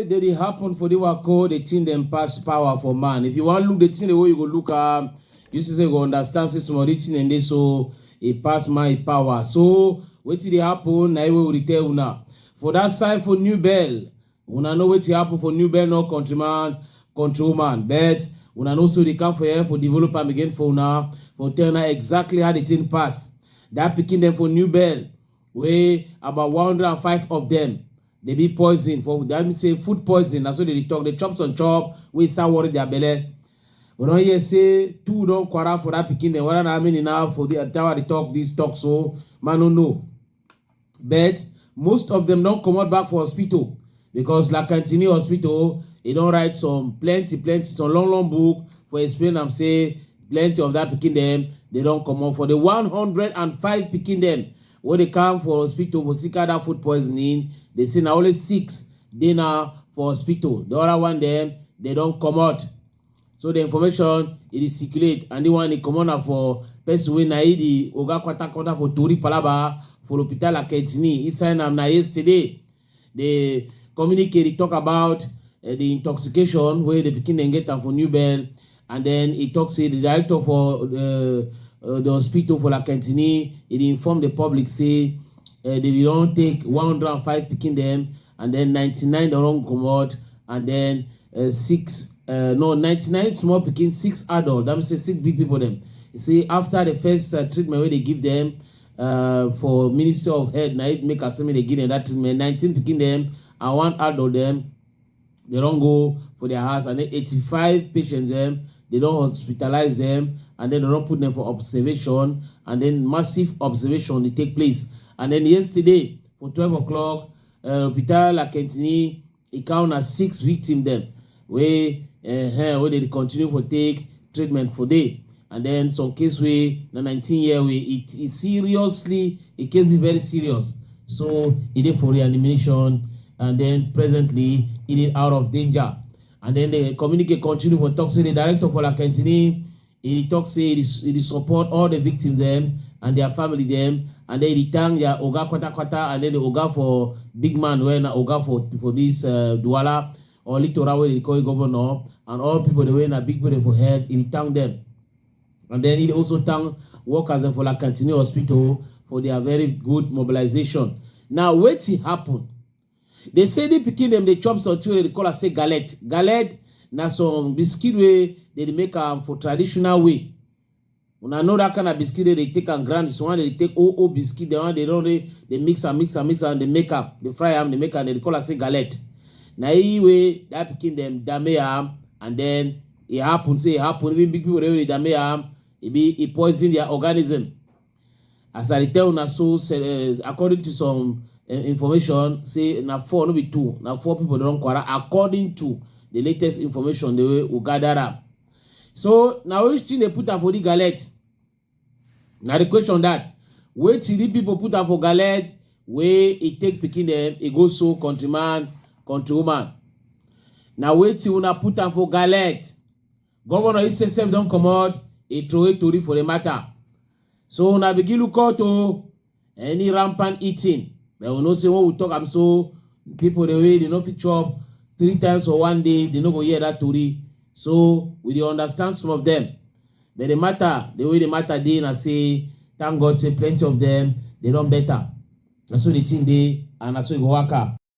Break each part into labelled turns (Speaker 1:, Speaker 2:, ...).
Speaker 1: Did it happen for the work called the thing them pass power for man. If you want to look the thing the way you go look um, you see say you go understand say some of the thing and they so it pass my power. So what did it happen? I will tell now. For that sign for new bell, Una know wetin happen for New Bern or countryman, countrywoman, but una no so dey come for here for develop am again for una for tell una exactly how the thing pass. That pikin dem for New Bern wey about 105 of them dey be poison for that mean say food poison na so dey dey talk dey chop some chop wey start worry their belle. We don hear say two don quarrel for that pikin dem whether na how many na for the tower dey talk this talk so man no know. but most of dem don comot back for hospital because la cantini hospital e don write some plenty plenty some long long book for explain am say plenty of that pikin dem dey don comot for the 105 pikin dem wey dey come for hospital for sick that food poisoning dey say na only six dey now for hospital the other one dem dey don comot so the information e dey circulate and the one e comot na for person wey na e the oga kwatakwata for tori palaba for hospital akejini e sign am na yesterday the communique dey talk about uh, the intoxication wey the pikin dem get am for new bell and then e talk say the director for uh, uh, the hospital for lakentini e dey inform the public say uh, they don take 105 pikin dem and then 99 don run comot and then uh, six uh, no 99 small pikin six adult that means say six big people dem you see after the first uh, treatment wey dey give dem uh, for ministry of health na it make asemi dey give dem that treatment 19 pikin dem and one adult dem they don go for their house and then 85 patients dem they don hospitalize dem and then they don put dem for observation and then massive observation dey take place and then yesterday For twelve o'clock, uh, Hopital Akentini e count na six victims dem wey uh, wey dey continue for take treatment for there. And then some case wey na 19 year wey it is seriously e case be very serious. So e dey for reanimation and then presently e dey out of danger. And then the communicate continue for talk say the director for Akentini E tok say e dey e dey support all di victims dem and dia family dem and den e dey thank dia oga kwata-kwata and den di oga for big man wey na oga for for dis Douala or Littoral wey dem dey call im governor and all pipo dem wey na big pipo dem for head, e dey thank dem. And den e dey also thank workers dem for La Cantinee Hospital for dia very good mobilisation. Now wetin happun? Dey say di pikin dem dey chop something wey dem dey call am say gallet. Gallet na some biscuit wey dem dey make am for traditional way. Una know dat kind of biscuit wey dem dey take am grind, some one dem dey take old old biscuit, dat one dem don already dey mix am, mix am, mix am, dey make am, dey fry am, dey make am, dem dey call am say gallet. Na im wey dat pikin dem dame am and den e happen say e happen, even big people dem wey dey dame am, e be e poison their organism. as i dey tell una so eh, according to some eh, information say na four no be two na four people don quarrel according to the latest information the way we gather am so na which thing dey put am for the galette na the question that wetin the people put am for galette wey e take pikin dem e go so countryman countrywoman na wetin una put am for galette Governor Isse sef don comot e throway tori for the matter. So una begin look out o any rampant eating. But we know say when we talk am so, people dey wey dey no fit chop three times for one day, they no go hear that tori. So we dey understand some of them. But the matter, the way the matter dey na say, thank God say plenty of them, they don better. Na so the thing dey and na so e go waka.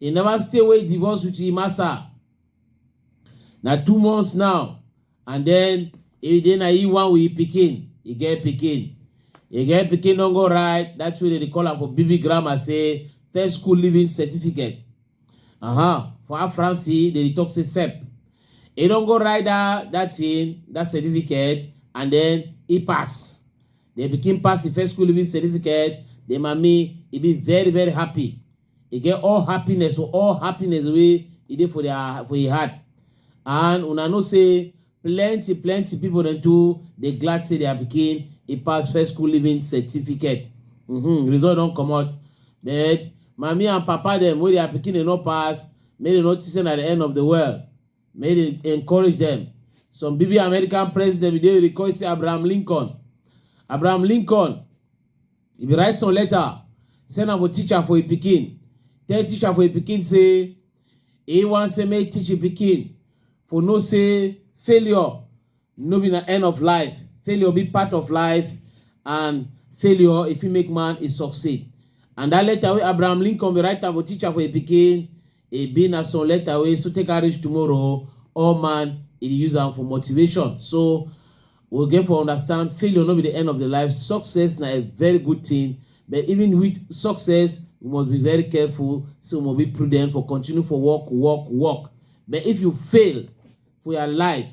Speaker 1: E never stay wey e divorce with im massa. Na two months now and den e dey na im one with im pikin, e get pikin. E get pikin don go write dat thing wey dem dey call am for BB grammar say first school leaving certificate. Uh-huh. For our France, dem dey talk say CEP. E don go write dat dat thing, dat certificate and den e pass. The pikin pass im first school leaving certificate, the mummy e be very very happy. e get all happiness for all happiness wey e dey for their for e heart and una know say plenty plenty people dem too dey glad say their pikin e pass first school living certificate mm -hmm. result don comot but mami and papa dem wey their pikin dey no pass make dem no think say na the end of the world make dem encourage dem some bb american president bin dey record say abraham lincoln abraham lincoln He bin write some letter, send am for teacher for im pikin. Tell teacher for im pikin say he wan say make teach im pikin for know say failure no be na end of life. Failure be part of life and failure e fit make man e succeed. And dat letter wey Abraham Lincoln bin write am for teacher for im pikin, E be na some letter wey so take am reach tomorrow o, all man e dey use am for motivation. So we get for understand failure no be the end of the life, success na a very good thing but even with success we must be very careful say we must be prudent for continue for work work work but if you fail for your life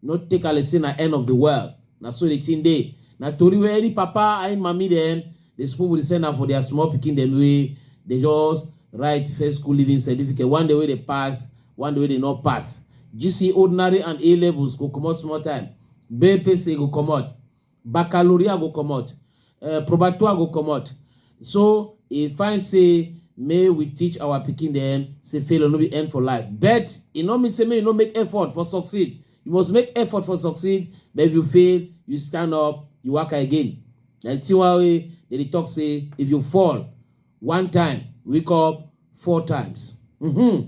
Speaker 1: no take am like say na end of the world na so the thing dey na tori wey any papa and mami dem dey spoon with the send am for their small pikin dem wey dey just write first school leaving certificate one day wey dey pass one day wey dey no pass gc ordinary and a levels go comot small time bpc go comot baccalaureate go comot uh, probatoire go comot so e find say may we teach our pikin dem say failure no be end for life but e no mean say make you no make effort for succeed you must make effort for succeed but if you fail you stand up you work again like tiwa wey dey dey talk say if you fall one time wake up four times. Mm-hmm.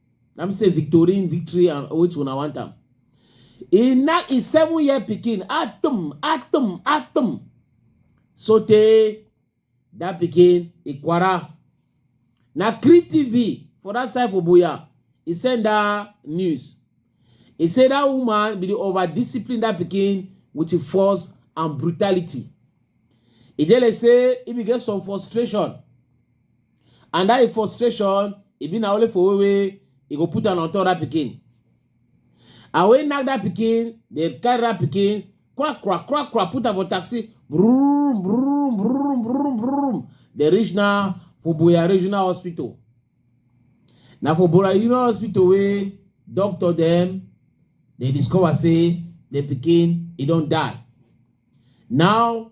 Speaker 1: na me say victorine victory and which una want am e na e seven year pikin atom atom atom so tey that pikin ikwara na cree tv for that side for boya e send that news e say that woman be the over discipline that pikin with force and brutality e dey like say e be get some frustration and that frustration e be na only for way wey e go put am on top that pikin and when knack that pikin dey carry that pikin crack crack crack crack put am for taxi brum brum brum brum brum dey reach now for boya regional hospital na for boya regional hospital wey doctor dem dey discover say the pikin e don die now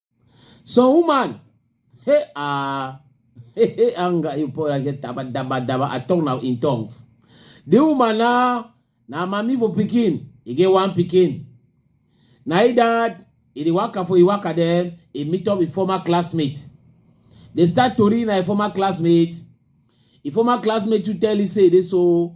Speaker 1: So woman, hey ah, hey hey anga you pour like daba daba daba. I talk now in tongues. The woman now, now mommy for picking. He get one picking. Now he dad, he dey waka for he waka then he meet up with former classmate. They start to read na former classmate. He former classmate to tell he say this so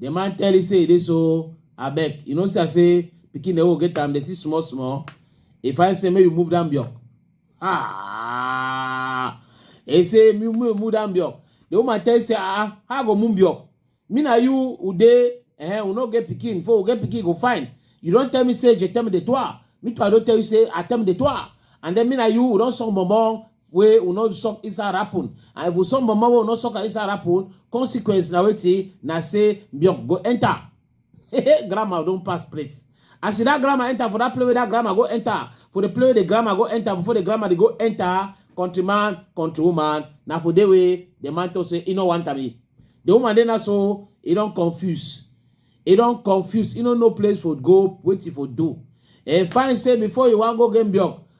Speaker 1: The man tell you say e dey so abeg you know see am say pikin dey go get am dey see small small e find say make you move down block ah e say make you move down block the woman tell you say ah how i go move block me na you we dey eh we no get pikin before we get pikin go fine you don tell me say je t'aime de toi me too i don tell you say i t'aime de toi and then me na you we don song bonbon wey we no suck inside rapun and if we suck mama wey we no suck am inside rapun consequence na wetin na say biok go enter grandma don pass place as see that grandma enter for that place wey that grandma go enter for the place wey the grandma go enter before the grandma dey go enter country man country woman na for there wey the man talk say e no want am e the woman dey na so e don confuse e don confuse e no know place for go wetin for do e find say before you wan go game biok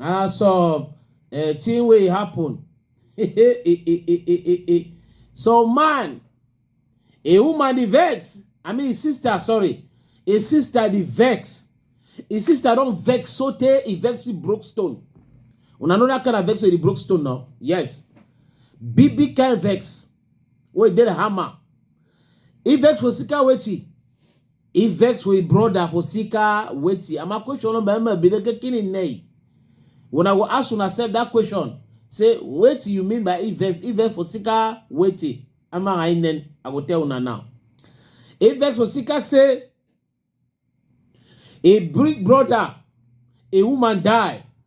Speaker 1: na some uh, thing wey happen so man a woman dey vex i mean his sister sorry his sister dey vex his sister don vex so tey e vex with broke stone una know that kind of vex wey dey broke stone now yes big big kind vex wey dey the hammer e vex for sika wetin He vex with brother for Sika Weti. And my question on Bama be the kicking in nay. When I go ask you accept that question, say what you mean by Ivex? Ivex for Sika Weti. Am I in then? I go tell una now. Ivex for Sika say a big brother, a woman die.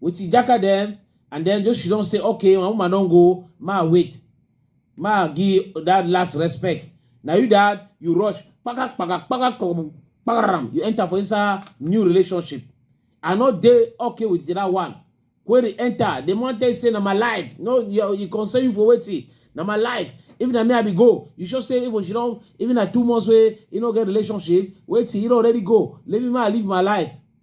Speaker 1: with Ijaka them, and then just she don't say, okay, my woman don't go, ma wait, ma give that last respect. Now you that you rush, pakak pakak pakak pakak, pakak, you enter for inside new relationship. I know they okay with that one. Query enter, the man they say na my life, no, you, you concern you for waiting, na my life. Even na me I be go, you should say even she don't, even na two months way, you know get relationship, waiting, you don't already go, leave me, I live my life.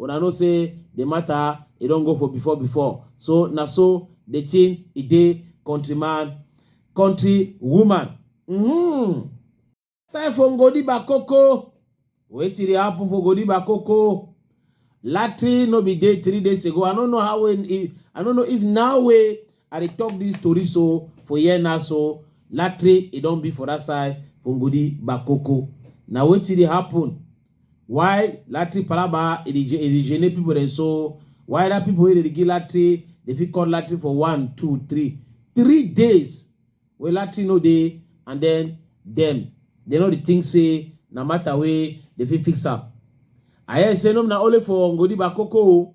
Speaker 1: una know say the matter e don go for before before so na so the thing e dey countryman country woman mm. sign for ngodiba koko wetin dey happen for ngodiba koko latin no be dey three days ago i no know how when if i no know if now wey i dey talk this story so for here now so latin e don be for that side for ngodiba koko na wetin dey happen why lati palaba e dey e dey gene people dem so why that people wey dey give lati dey fit call lati for one two three three days wey lati no dey and then dem dey no dey think say na matter wey dey fit fix am i hear say no na only for ngodi bakoko o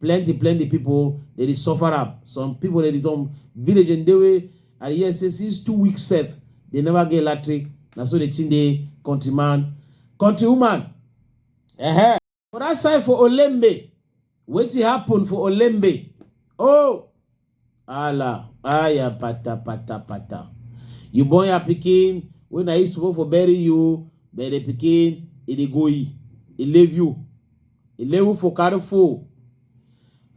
Speaker 1: plenty plenty people dey dey suffer am some people dey dey don village and dey wey i dey hear say since two weeks sef dey never get electric na so the thing dey country man country woman uh-huh. for that side for olembe wetin happen for olembe oh Ala, aya pata pata pata. You born your pikin when I used to for bury you, but the pikin it dey go e. It leave you. It leave you for careful.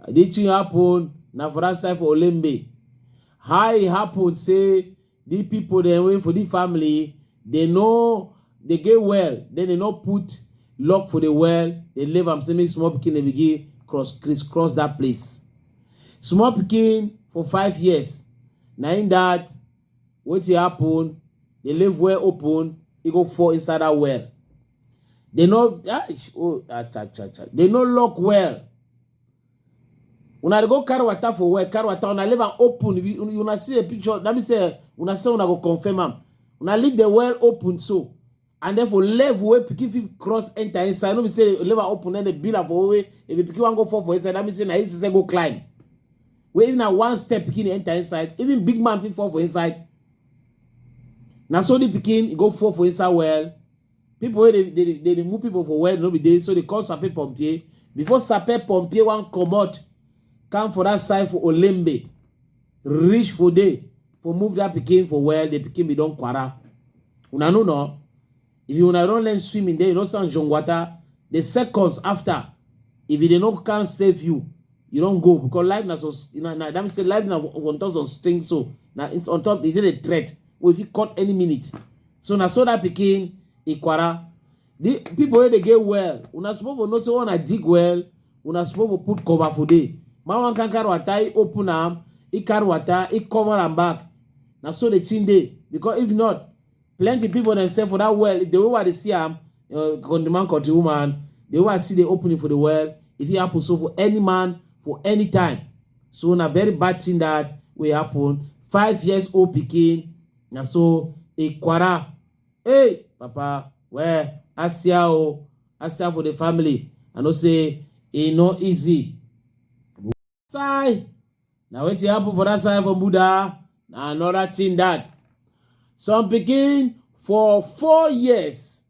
Speaker 1: This thing happen na for that side for Olembe. How it happen say The people then wey for the family, they know they get well, then they no put lock for the well, they leave am say make small pikin dey begin cross crisscross that place. Small pikin for five years, na im that wetin happen, the leave well open, e go fall inside that well. They no ah, oh, ah, cha, cha, cha. They no lock well. Una dey go carry water for well, carry water, una leave am open. If you una see a picture, that means say una say una go confirm am. Una leave the well open so. And then for level wey pikin fit cross enter inside, no be say leave am open then dey build am for way. If the pikin wan go fall for inside, that means say na him say go climb. Wey if na one step pikin enter inside, even big man fit fall for inside. Na so the pikin go fall for inside well. people wey dey dey dey remove people for where no be dey so they call sape pompier before sape pompier wan comot come for that side for olembe reach for there for move that pikin for well the pikin be don kwara una know no if you una don learn swimming then you don stand john water the seconds after if you dey no can save you you don go because life na so na na that mean say life na on top of things so na it's on top e dey the threat wey fit cut any minute so na so that pikin ikwara the people wey dey get well una suppose for know say una dig well una suppose for put cover for there man wan kan carry water he open am he carry water he cover am back na so the thing dey because if not plenty people themselves for that well the way i dey see am uh, the man cut the woman the way i see the opening for the well e fit happen so for any man for any time so na very bad thing that wey happen five years old pikin na so ikwara hey papa well asia o asia for the family i know say e no easy side na wetin happen for that side for buda na another thing that some pikin for four years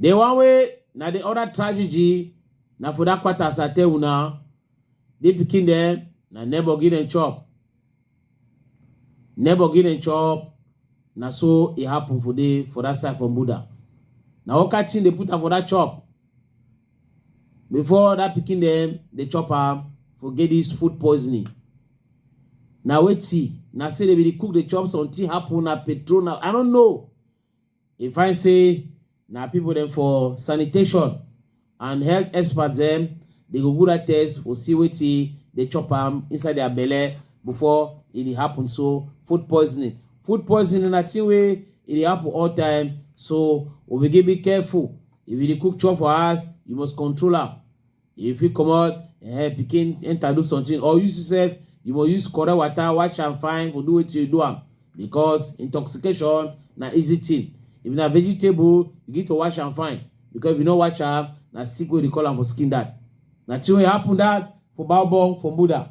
Speaker 1: The one way na the other tragedy na for that quarter as I tell una the pikin dem na neighbor give dem chop neighbor give dem chop na so e happen for the for that side for Buddha na what kind thing dey put am for that chop before that pikin dem dey chop am for get this food poisoning na wetin na say dem be dey cook dey chop something happen na petrol na I don't know e find say na people dem for sanitation and health experts dem dey go good at test for see wetin dey chop am inside their belle before e dey happen so food poisoning food poisoning na thing wey e dey happen all time so we begin be careful if you dey cook chop for house you must control am you fit comot eh, pikin enter do something or you sef you must use correct water wash am fine for do wetin you do am because intoxication na easy thing if na vegetable you need to wash am fine because if you no wash am na sick wey dey call am for skin that na thing wey happen that for baobon for buddha